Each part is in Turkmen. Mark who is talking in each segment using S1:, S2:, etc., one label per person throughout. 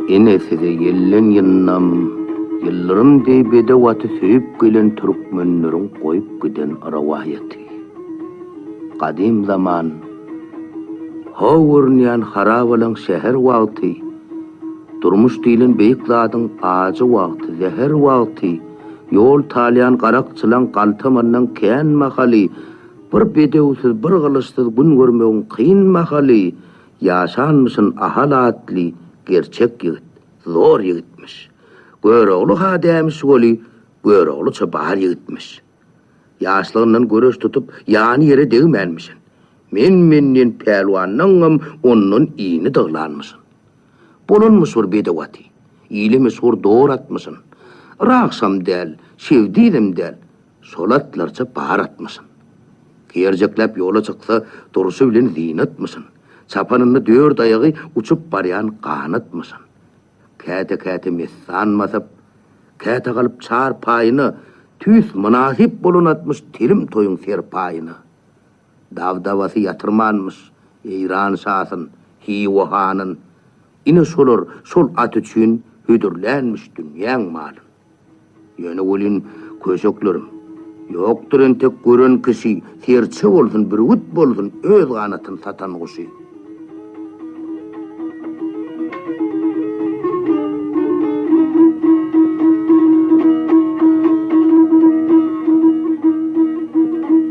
S1: Ine size ýelleň ýyndam, ýyldyrym deý bedew aty söýüp gelen türkmenleriň goýup giden rowaýaty. Gadym zaman. How görünýän harabalaň säher wagty, Durmuş diýlen beýik zadyň ajy wagty, zäher wagty, Ýol talýan garakçylaň galtamandan kän mahaly, Bir bedewsiz, bir gylyçsyz gün görmegiň kyn mahaly, Ýaşanmyşyn Ahal atly gerçek ýigit, zor ýigitmiş. Görogly-ha dämiş weli, Göroglyça bar ýigitmiş. Ýaşlygyndan göreş tutup, ýany ýere degmänmişin. Men-menden pälwandanam ondan ini dyglanmyşyn. Bolanmyş bir bedew aty. Ile meşhur dor atmyşyn. Rakşam däl, şewdizem däl, şol atlarça bar atmyşyn. Kerjekläp ýola çyksa, durşy bilen zynatmyşyn. Çapanynda dört aýagy uçup barýan ganatmyşyn. Käte-käte messan basyp, käte galyp çar paýyna, tüýs mynasyp bolan atmyş telim toýuň serpaýyna. Dabdabasy ýatyrmanmyş Eýran şasyn, Hywa hanyn. Ine şolar şol at üçin hödürlänmiş dünýäň malyn. Ýöne welin, köşeklerim, ýokdur entek gören kişi, serçe bolsun, bürgüt bolsun, öz ganatyn satan guşy.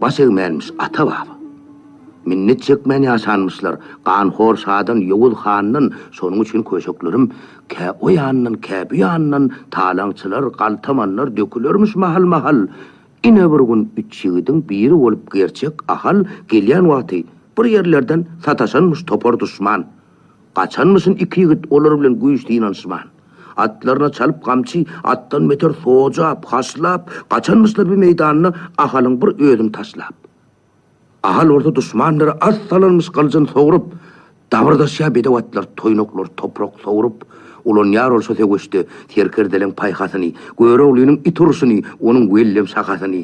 S1: Baş egmänmiş ata-baba. Minnet çekmän ýaşanmyşlar ganhor şadan, Ýowuz handan, şonuň üçin köşeklerim kä o ýandan, kä bu ýandan talaňçylar, galtamanlar dökülermiş mahal-mahal. Ine bir gün üç ýigidiň biri bolup gerçek Ahal gelýän wagty bir ýerlerden sataşanmyş topar duşman. Gaçanmyşyn iki ýigit olar bilen güýç synanyşman. Atlaryna çalyp gamçy, atdan beter sojap, haşlap, gaçanmyşlar bi meýdanda Ahalyň bir özüni taşlap. Ahal bolsa duşmanlary az salanmyş gylyjyn sogrup, dabyrdaşýar bedew atlar toýnaklar toprak sogrup, ulanýar ol şo söweşde serkerdeleň paýhasyny, Göroglynyň it urşuny, onuň wellem şahasyny.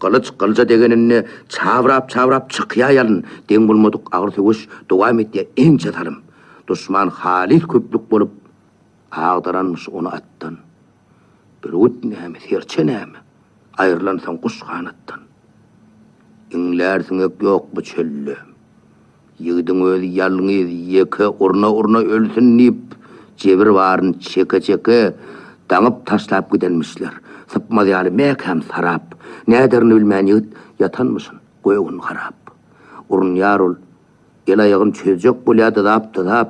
S1: Gylyç gylyja degeninde çabrap-çabrap çykýar ýalyn, deň bolmadyk agyr söweş dowam etýär ençe salym. Duşman halys köplük bolup, agdaranmyş ony atdan. Bürgüt näme, serçe näme, aýrylansoň guş ganatdan. Iňlär siňek ýok bu çölde. Ýigidiň özi ýalňyz ýeke urna-urna ölsün diýip, jebir baryny çeke-çeke, daňyp taşlap gidenmişler. Sypmaz ýaly mäkäm sarap. Näderini bilmän ýigit ýatanmyşyn, göwün garap. Urunýar ol. El-aýagyn çözjek bolýar dyzap-dyzap.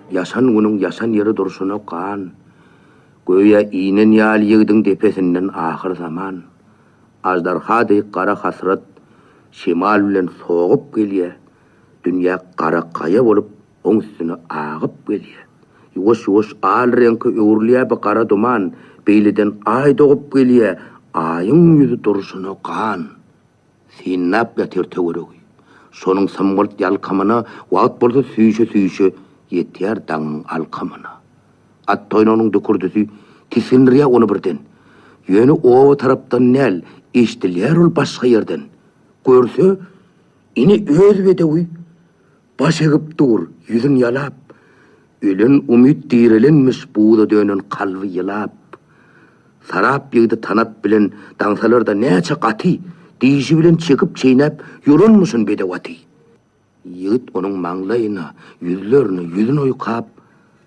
S1: Ýaşan günüň ýaşan ýeri durşuna gan, Göýä inen ýaly ýigdiň depesinden ahyr zaman. Aždarha deý gara hasrat şemal bilen sogup gelýä, Dünýä gara gaýa bolup oň üstüne agyp gelýä. Ýuwaş-ýuwaş al reňke öwrülýä bu gara duman, Beýleden Aý dogup gelýä, Aýyň ýüzi durşuna gan. Synlap ýatyr töweregi. Şonuň symgylt ýalkamyna Wagt bolsa süýşe-süýşe Ýetýär daňyň alkamyna. At toýnagynyň dükürdisi Tisgindirýär ony birden. Ýöne oba tarapdan däl, Eşdilýär ol başga ýerden. Görse, ine öz bedewi. Baş egip dur, ýüzün ýalap, Ölen umyt direlenmiş buza dönen kalby ýylap. Sarap ýygdy tanap bilen daňsalarda näçe gaty, Dişi bilen çekip-çeýnäp ýolanmyşyn bedew aty. Ýigit onuň maňlaýyna, ýüzlerine, ýüzün oýkap.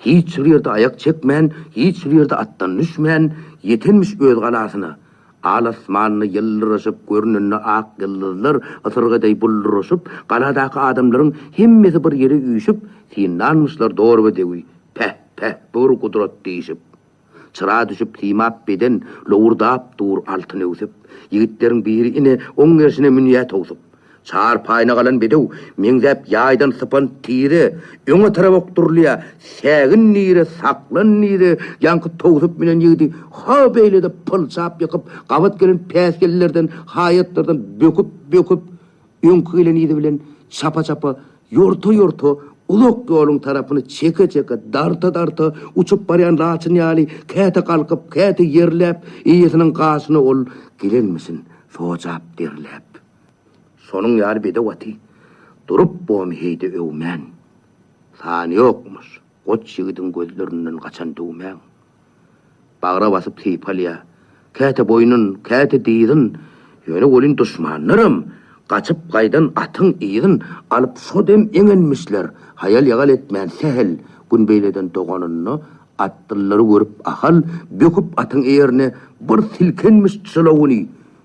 S1: Hiç bir ýerde aýak çekmän, hiç bir ýerde atdan düşmän, ýetenmiş öz galasyna. Al asmanda ýyldyraşyp görnende ak ýyldyzlar ysyrga deý bulduryşyp, galadaky adamlaryň hemmesi bir ýere üýşüp, synlanmyşlar dorba dewi, Päh, päh, bu bir gudrat diýşip. Çyra düşüp simap beden, lowurdap dur altyn öwsüp. Ýigitleriň biri ine, oň gerşine münýä towsup. Çar paýna galan bedew, meňzäp ýaýdan sypan tire, öňe tarap okdurylýa, sägin nire, saklan nire, ýaňky towsup münen ýigidi ha beýlede pylçap ýykyp, gabat gelen päsgellerden, haýatlardan böküp, böküp, Öňki gelen yzy bilen çapa-çapa, ýorta-ýorta, uzak ýoluň tarapyny çeke-çeke, darta-darta uçup barýan laçyn ýaly käte galkyp, käte ýerläp, eýesiniň gaşyna ol gelenmisin, sojap derläp. Şonuň ýaly bedew aty durup bomy heý-de öwmän. Sany ýokmyş. Goç ýigidiň gözlerinden gaçan düwmäň bagra basyp sypalýar, käte boýnun, käte dyzyn, ýöne welin duşmanlaram gaçyp gaýdan atyň yzyn alyp şo dem eňenmişler, haýal-ýagal etmän sähel gün beýleden doganynda atdyllary görüp Ahal böküp atyň eýerine bir silkenmiş çylawyny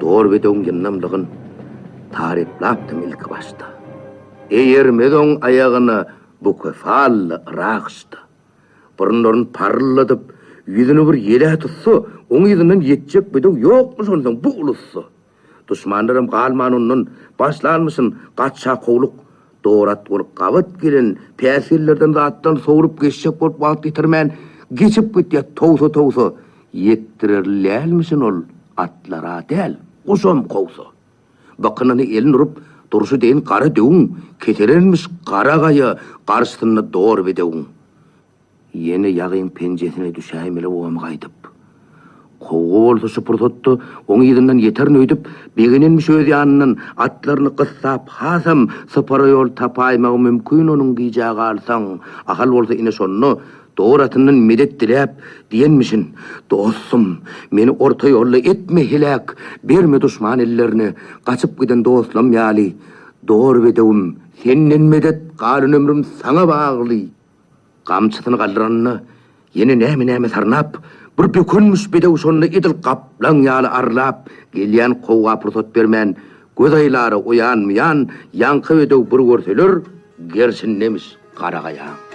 S1: Dorbedegiň ýyndamlygyny taryplapdym ilki başda. Eýermez oň aýagyna bukefally yragyçda. Burunlaryny paryldadyp, ýüzüni bir ýele tutsa, oň yzyndan ýetjek bedew ýokmuş onsoň bu ulusda. Duşmanlarym galman ondan, başlanmyşyn gaça kowluk. Dorat bolup gabat gelen päsgellerden zatdan sowrup geçjek bolup wagt ýitirmän, geçip gitýär towsa-towsa. Ýetdirerli dälmişin ol atlar-a däl, guşam kowsa. Bykynyny elin urup durşy deýin gara döwüň, keselenmiş gara gaýa garşysynda dor bedewiň. Ýene ýagyň penjesine düşäýmeli bobam gaýdyp. Kowgy bolsa şu pursatda oň yzyndan ýeterin öýdüp, begenenmiş öz ýanyndan atlaryny gyssap hasam sypara ýol tapaýmagy mümkin onuň gijä galsaň. Ahal bolsa ine şonda Dor atyndan medet diläp, diýenmişin, Dostum, meni orta ýolda etme heläk, berme duşman ellerine, gaçyp giden dostlam ýaly, Dor bedewim, senden medet, galan ömrüm saňa bagly! Gamçysyny galdyranda, ýene näme-näme sarnap, bir bökünmiş bedew şonda edil gaplaň ýaly arlap gelýän kowga pursat bermän, göz aýlara oýanmaýan ýaňky bedew bir görseler, gerşindemiş garagaýaň.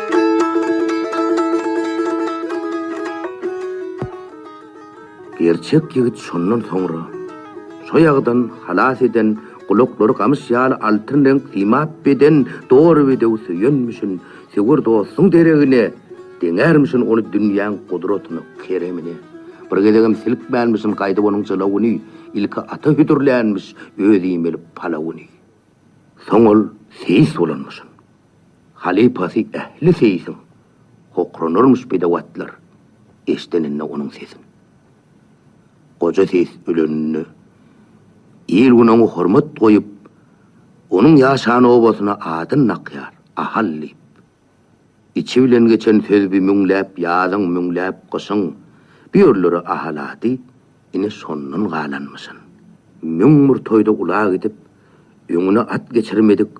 S1: Gerçek ýigit şondan soňra, soýagdan halas eden, gulaklary gamyş ýaly altyn reňk simap beden doly bedew söýenmişin, söwer dostuň deregine deňärmişin ony dünýäň gudratyna, keremine. Bir gezegem silkmänmişin gaýdyp onuň jylawyny, ilki ata hödürlänmiş öz iýmeli palawyny. Soň ol seýis bolanmyşyn. Halypasy ähli seýsiň, Hokranarmyş bedewatlar, Eşdeninde onuň sesin. Goja seýis öleninde, Il-gün oňa hormat goýup, Onuň ýaşan obasyna Adyn dakýar, Ahal diýip. Içi bilen geçen söz bi Müňläp ýazyň, müňläp gyşyň, Bu ýerlere Ahal ady, Ine şondan galanmyşyn. Müň bir toýda ula gidip, Öňüne at geçirmedik,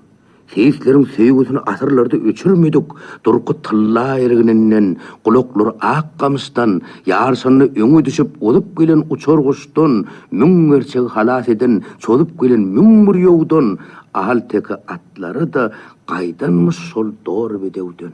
S1: seýisleriň söýgüsini asyrlarda öçürmedik durky tylla ergininden, gulaklary ak gamyşdan, ýaryşanda öňe düşüp uzup gelen uçar guşdan, müň gerçegi halas eden çozup gelen müň bir ýowdan, ahalteke atlary-da gaýdanmyş şol dor bedewden.